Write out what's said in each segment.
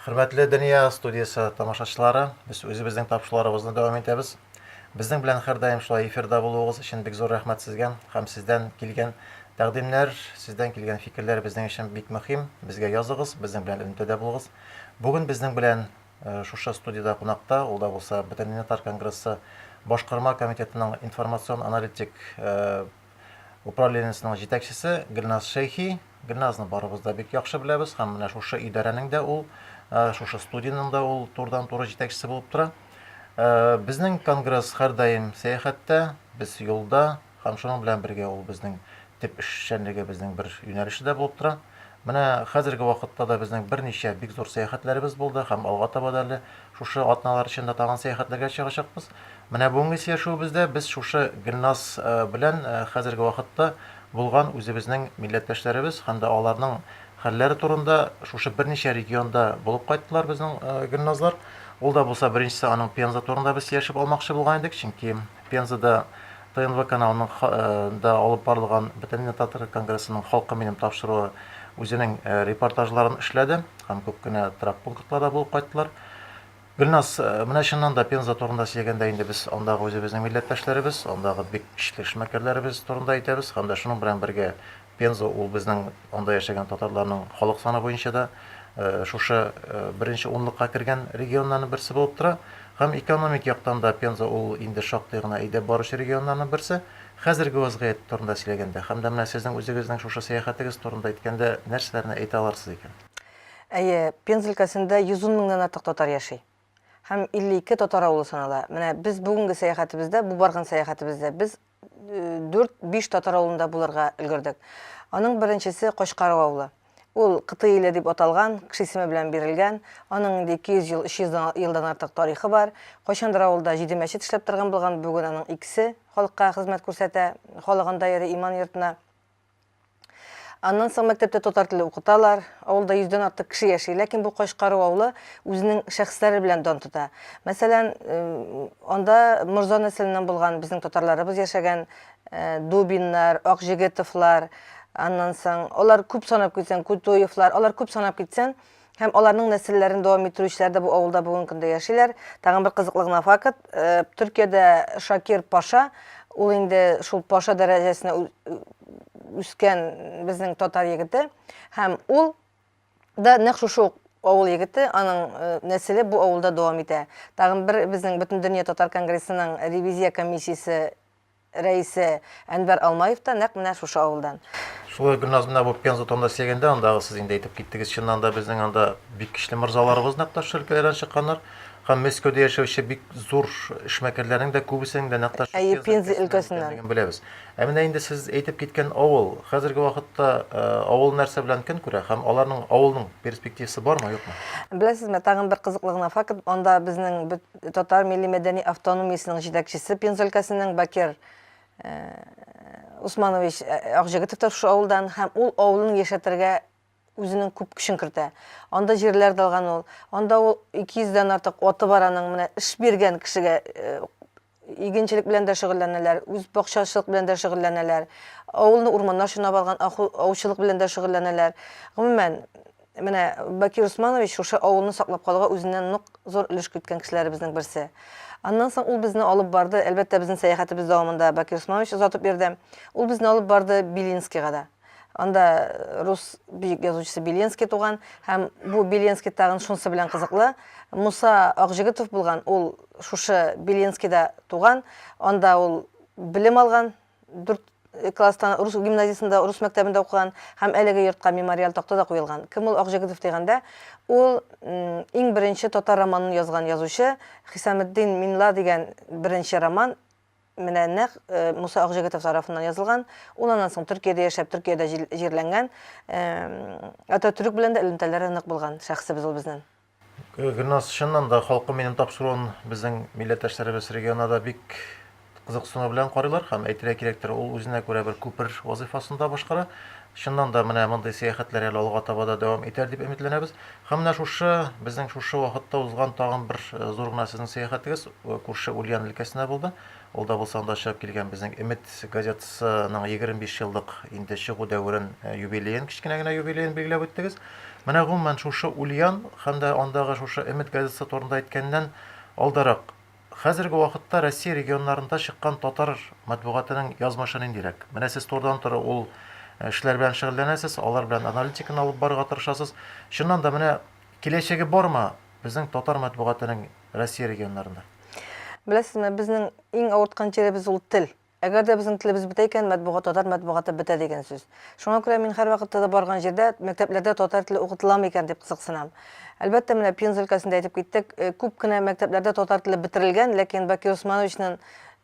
Хөрмәтле Дөнья студиясе тамашачылары, без үзебезнең тапшыруларыбызны дәвам итәбез. Безнең белән һәрдаим шулай эфирда булуыгыз өчен бик зур рәхмәт сезгә һәм сездән килгән тәкъдимнәр, сездән килгән фикерләр безнең өчен бик мөһим. Безгә языгыз, безнең белән элемтәдә булыгыз. Бүген безнең белән шушы студиядә кунакта, ул да булса Бөтенмилләтар конгрессы Башкарма комитетының информацион-аналитик управлениесенең җитәкчесе Гөлназ Шәйхи. Гөлназны барыбыз да бик яхшы беләбез һәм менә шушы идарәнең дә ул, шушы студиянең дә ул турыдан-туры җитәкчесе булып тора. Безнең конгресс һәрдаим сәяхәттә, без юлда, Һәм шуның белән бергә ул безнең төп эшчәнлегебезнең бер юнәлеше дә булып тора. Менә хәзерге вакытта да безнең берничә бик зур сәяхәтләребез булды һәм алга таба да әле шушы атналар эчендә тагын сәяхәтләргә чыгачакбыз. Менә бүгенге сөйләшүебездә без шушы Гөлназ э, белән э, хәзерге вакытта булган үзебезнең милләттәшләребез һәм дә аларның хәлләре турында шушы берничә регионда булып кайттылар безнең э, Гөлназлар. Ул да булса беренчесе аның Пенза турында без сөйләшеп алмакчы булган идек, чөнки Пензада ТНВ каналының ха э, да алып барылган Бөтенләй татар конгрессының Халкы минем тапшыруы үзенең э, репортажларын эшләде һәм күп кенә торак пунктларда булып кайттылар. Гөлназ, э, менә чыннан да Пенза турында сөйләгәндә инде без андагы үзебезнең милләттәшләребез, андагы бик көчле эшмәкәрләребез турында әйтәбез һәм дә шуның белән бергә Пенза ул безнең анда яшәгән татарларның халык саны буенча да шушы беренче унлыкка кергән регионнарның берсе булып тора. Һәм экономик яктан да Пенза ул инде шактый гына әйдәп баручы регионнарның берсе. Хәзерге вазгыять турында сөйләгәндә, һәм дә менә сезнең үзегезнең шушы сәяхәтегез турында әйткәндә, нәрсәләрне әйтә аларсыз икән? Әйе, Пенза өлкәсендә 110 меңнән артык татар яши. Һәм 52 татар авылы санала. Менә без бүгенге сәяхәтебездә, бу барган сәяхәтебездә без 4-5 татар авылында булырга өлгердек. Аның беренчесе Качкару авылы. Ул Кыты иле дип аталган, кеше исеме белән бирелгән. Аның инде 200 ел, 300 елдан артык тарихы бар. Кайчандыр авылда җиде мәчет эшләп торган булган, бүген аның икесе халыкка хезмәт күрсәтә, халык анда йөри, иман йортына. Аннан соң мәктәптә татар теле укыталар. Авылда 100 дән артык кеше яши, ләкин бу Качкару авылы үзенең шәхесләре белән дан тота. Мәсәлән, анда морза нәселеннән булган безнең татарларыбыз яшәгән, Дубиннар, Акҗегетовлар, аннан соң алар күп санап китсәң, Кутуевлар, алар күп санап китсәң, Һәм аларның нәселләрен дәвам иттерүчеләр дә бу авылда бүгенге көндә яшиләр. Тагын бер кызыклы гына факт, Төркиядә Шакир паша, ул инде шул паша дәрәҗәсенә үскән безнең татар егете, һәм ул да нәкъ шушы ук авыл егете, аның нәселе бу авылда дәвам итә. Тагын бер безнең Бөтендөнья татар конгрессының ревизия комиссиясе рәисе Әнвәр Алмаев та нәкъ менә шушы авылдан. Шулай Гөлназ менә бу Пенза турында сөйләгәндә, андагы сез инде әйтеп киттегез, чыннан да безнең анда бик көчле морзаларыбыз нәкъ менә шушы өлкәләрдән чыкканнар. Һәм Мәскәүдә яшәүче бик зур эшмәкәрләрнең дә күбесенең дә нәкъ та шул Әйе, Пенза өлкәсеннән икәнлеген беләбез. Ә менә инде сез әйтеп киткән авыл, хәзерге вакытта авыл нәрсә белән көн күрә һәм аларның авылның перспективасы бармы, юкмы? Беләсезме, тагын бер кызыклы гына факт, анда безнең бөт Татар милли-мәдәни автономиясенең җитәкчесе Пенза өлкәсенең Бакер Усманович Акҗегетов та шушы авылдан һәм ул авылын яшәтергә үзенең күп көчен кертә. Анда җирләр дә алган ул. Анда ул 200 дән артык аты бар аның. Менә эш биргән кешегә игенчелек белән дә шөгыльләнәләр, үз бакчачылык белән дә шөгыльләнәләр. Авылны урманнар чорнап алган, аучылык белән дә шөгыльләнәләр. Гомумән, Менә Бакир Усманович шушы авылны саклап калуга үзеннән нык зур өлеш керткән кешеләребезнең берсе. Аннан соң ул безне алып барды, әлбәттә, безнең сәяхәтебез дәвамында Бакир Усманович озатып йөрде. Ул безне алып барды Белинскийга да. Анда рус бөек язучысы Беленский туган һәм бу Беленский тагын шунсы белән кызыклы, Муса Акҗегетов булган, ул шушы Беленскийда туган, анда ул белем алган, дүрт класстан рус гимназиясендә, рус мәктәбендә укыган һәм әлеге йортка мемориаль такта да куелган. Кем ул Акҗегетов дигәндә, ул иң беренче татар романын язган язучы Хисаметдин Минла дигән беренче роман менә нәкъ Муса Акҗегетов тарафыннан язылган. Ул аннан соң Төркиядә яшәп, Төркиядә җирләнгән. Ататөрек белән дә элемтәләре нык булган шәхесебез ул безнең. Гөлназ, чыннан да, халкым минем тапшыруын безнең милләттәшләребез регионда да бик кызыксыну белән карыйлар һәм, әйтергә кирәктер, ул үзенә күрә бер күпер вазыйфасын да башкара. Чыннан да, менә мондый сәяхәтләр әле алга таба да дәвам итәр дип өметләнәбез. Һәм менә шушы, безнең шушы вакытта узган тагын бер зур гына сезнең сәяхәтегез күрше Ульян өлкәсенә булды. Ул да булса анда чыгып килгән безнең Өмет газетасының 25 еллык инде чыгу дәверен, э, юбилеен, кечкенә генә юбилеен билгеләп үттегез. Менә гомумән шушы Ульян һәм дә андагы шушы Өмет газетасы турында әйткәннән алдарак, хәзерге вакытта Россия регионнарында чыккан татар матбугатының язмышы ниндирәк? Менә сез турыдан туры ул э, эшләр белән шөгыльләнәсез, алар белән аналитиканы алып барырга тырышасыз. Чыннан да менә киләчәге бармы безнең татар матбугатының Россия регионнарында. Беләсезме, безнең иң авырткан җиребез ул тел. Әгәр дә безнең телебез бетә икән, матбугат, татар матбугаты бетә дигән сүз. Шуңа күрә мин һәрвакытта да барган җирдә мәктәпләрдә татар теле укытыламы икән дип кызыксынам. Әлбәттә, менә Пенза өлкәсендә әйтеп киттек, э, күп кенә мәктәпләрдә татар теле бетерелгән, ләкин Бакир Усмановичның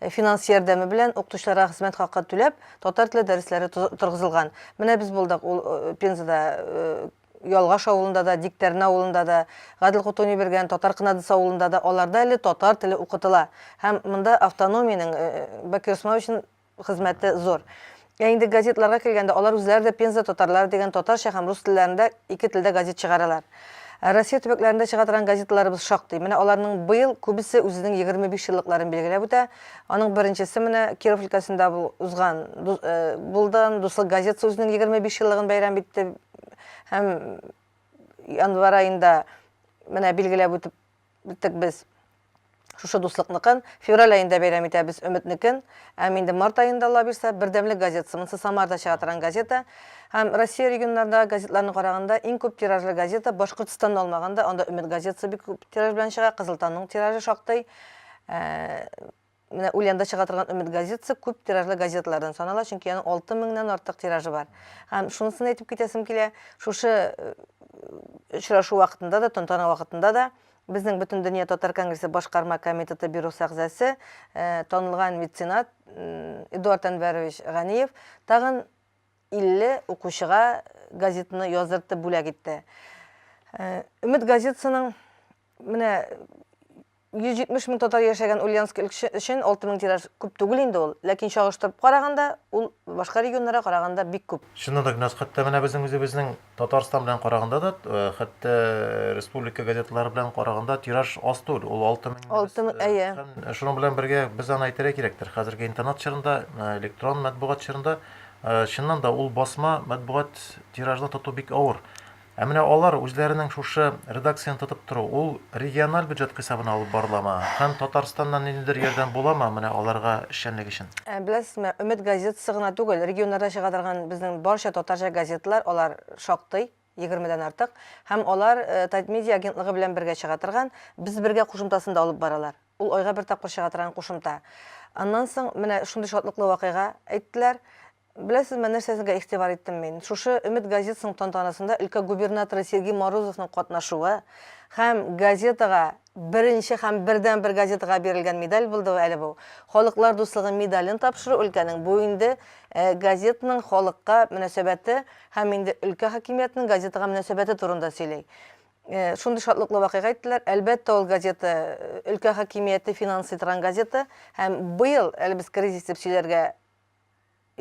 Э, финанс ярдәме белән укытучыларга хезмәт хакы түләп, татар теле дәресләре торгызылган. Менә без булдык ул э, Пензада э, Ялгаш авылында да, Диктәрнә авылында да, Гадел Кутуни биргән Татар Кынадысы авылында да аларда әле татар теле укытыла һәм монда автономиянең Бәкер Усмановичның хезмәте зур. Ә инде газетларга килгәндә, алар үзләре дә Пенза татарлары дигән татарча һәм рус телләрендә ике телдә газет чыгаралар. Россия төбәкләрендә чыга торган газеталарыбыз шактый. Менә аларның быел күбесе үзенең 25 еллыкларын билгеләп үтә. Аның беренчесе менә Киров өлкәсендә узган, Булдан дуслык газетасы үзенең 25 еллыгын бәйрәм итте. Һәм январ аенда менә билгеләп үтеп үттек без шушы дуслыкныкын. Февраль аенда бәйрәм итәбез Өметнекен. Һәм инде март аенда ала бирсә, Бердәмлек газетасы, монысы Самарда чыга торган газета. Һәм Россия регионнарындагы газетларны караганда, иң күп тиражлы газета Башкортостанны алмаганда, анда Өмет газетасы бик күп тираж белән чыга, Кызыл таңның тиражы шактый. Ә, Менә Ульянда чыга торган Өмет газетасы күп тиражлы газеталардан санала, чөнки аның алты меңнән артык тиражы бар. Һәм шунысын әйтеп китәсем килә, шушы очрашу вакытында да, тантана вакытында да безнең Бөтендөнья татар конгрессы башкарма комитеты бюросы әгъзасы, танылган меценат Эдуард Әнвәрович Ганиев тагын 50 укучыга газетаны яздыртып бүләк итте. Өмет газетасының менә 170 мең татар яшәгән Ульяновск өлкәсе өчен 6 мең тираж күп түгел инде ул, ләкин чагыштырып караганда, ул башка регионнарга караганда бик күп. Чыннан да Гөлназ, хәтта менә безнең үзебезнең Татарстан белән караганда да, хәтта республика газеталары белән караганда тираж аз түгел, ул 6 мең. 6 мең, әйе. Һәм шуның белән бергә без аны әйтергә кирәктер, хәзерге интернет чорында, электрон матбугат чорында, чыннан да, ул басма матбугат тиражны тоту бик авыр. Ә менә алар үзләренең шушы редакцияне тотып тору, ул региональ бюджет хисабына алып барыламы һәм Татарстаннан ниндидер ярдәм буламы менә аларга эшчәнлек өчен? Беләсезме, Өмет газетасы гына түгел, регионнарда чыга торган безнең барча татарча газеталар, алар шактый, егермедән артык, һәм алар Татмедиа агентлыгы белән бергә чыга торган Без бергә кушымтасын да алып баралар. Ул айга бер тапкыр чыга торган кушымта. Аннан соң менә шундый шатлыклы вакыйга әйттеләр. Беләсезме, нәрсәсенкә игътибар иттем мин? Шушы Өмет газетасының тантанасында өлкә губернаторы Сергей Морозовның катнашуы һәм газетага, беренче һәм бердәнбер газетага бирелгән медаль булды әле бу. Халыклар дуслыгы медален тапшыру өлкәнең, бу инде газетаның халыкка мөнәсәбәте һәм инде өлкә хакимиятенең газетага мөнәсәбәте турында сөйли. Шундый шатлыклы вакыйга әйттеләр. Әлбәттә, ул газета, өлкә хакимияте финансый торган газета. Һәм быел, әле без кризис дип сөйләргә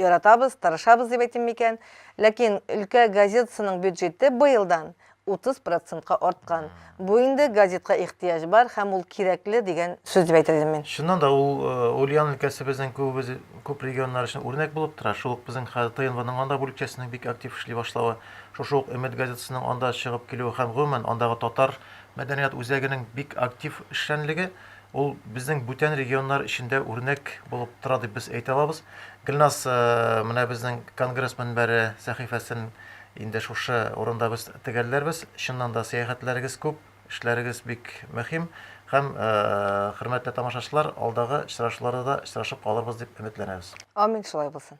яратабыз, тырышабыз дип әйтим микән, ләкин өлкә газетасының бюджеты быелдан 30 процентка арткан. Бу инде газетка ихтыяҗ бар һәм ул кирәкле дигән сүз дип әйтер идем мин. Чыннан да, ул Ульян өлкәсе безнең күбебез, күп регионнар өчен үрнәк булып тора. Шул ук безнең ХТНВның анда бүлекчәсенең бик актив эшли башлавы. Шушы ук Өмет газетасының анда чыгып килүе һәм, гомумән, андагы татар мәдәният үзәгенең бик актив эшчәнлеге, ул безнең бүтән регионнар өчен дә үрнәк булып тора дип без әйтә алабыз. Гөлназ, менә безнең конгресс мөнбәре сәхифәсен инде шушы урында без төгәлләрбез. Чыннан да, сәяхәтләрегез күп, эшләрегез бик мөһим һәм, хөрмәтле тамашачылар, алдагы очрашуларда да очрашып калырбыз дип өметләнәбез. Амин, шулай булсын.